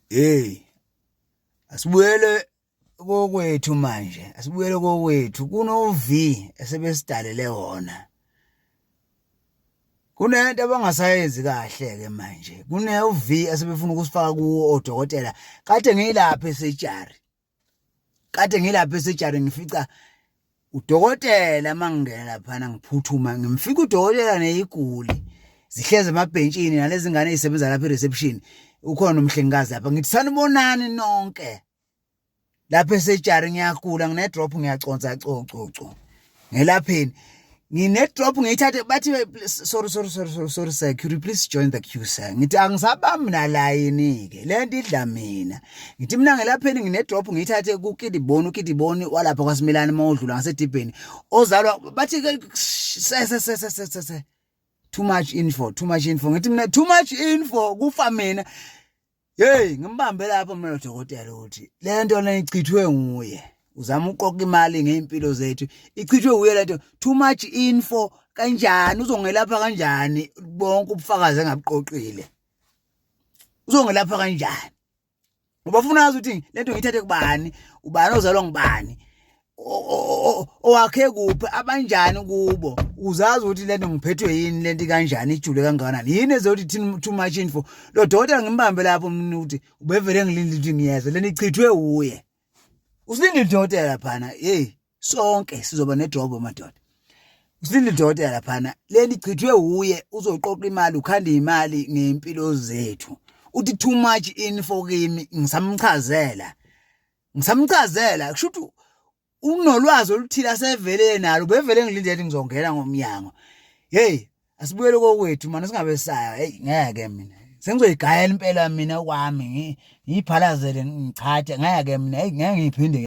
hey asibuyele kokwethu manje asibuyele kokwethu kuno V esebesidalele wona kunento abangasayenzi kahle ke manje kune uV asebefuna ukusifaka kuwo odokotela kade ngilapha esejari kade ngilapha esejari ngifica udokotela mangingena laphana ngiphuthuma ngimfika udokotela neyiguli zihleze emabhentshini nalezi ngane ezisebenza lapha e-reception ukhona umhlengikazi lapha ngithi sanibonani nonke lapha esejari ngiyagula ngine-drop ngiyaconsa cococo ngelapheni ngine-drop ngiyithathe bathi sorry sorry sorry sorry sorry sir could you please join the queue sir ngithi angisabami nalayini-ke le nto idla mina ngithi mina ngelapheni ngine-drop ngiyithathe kukidiboni ukidiboni walapha kwasimelani uma udlula ngasedibheni ozalwa bathi sesesesesese too much info too much info ngithi mina too much info kufa mina Hey ngimbambe lapho mina dokotela ukuthi lento leyichithwe nguye uzama uqoqa imali ngeimpilo zethu ichithwe nguye lento too much info kanjani uzongelapha kanjani bonke ubufakazi engabuqoqile uzongelapha kanjani ngoba ufuna azi ukuthi lento ngiyithathe kubani ubani ozalwa ngubani owakhe kuphi abanjani kubo uzazi ukuthi lento ngiphethwe yini lento kanjani ijule kangakanani yini ezothi thina too much info lo dokotela ngimbambe lapho mina ukuthi ubevele ngilindile ukuthi ngiyeza lento ichithwe wuye usilindile udokotela phana hey sonke sizoba nedrobo madoda usilindile udokotela phana lento ichithwe wuye uzoqoqa imali ukhanda imali ngempilo zethu uthi too much info kimi ngisamchazela ngisamchazela kusho ukuthi unolwazi oluthile asevele nalo bevele ngilinde ukuthi ngizongena ngomnyango hey asibuyele kokwethu manje singabe saya hey ngeke mina sengizoyigayela impela mina kwami ngiyiphalazele ngichathe ngeke mina hey ngeke ngiphinde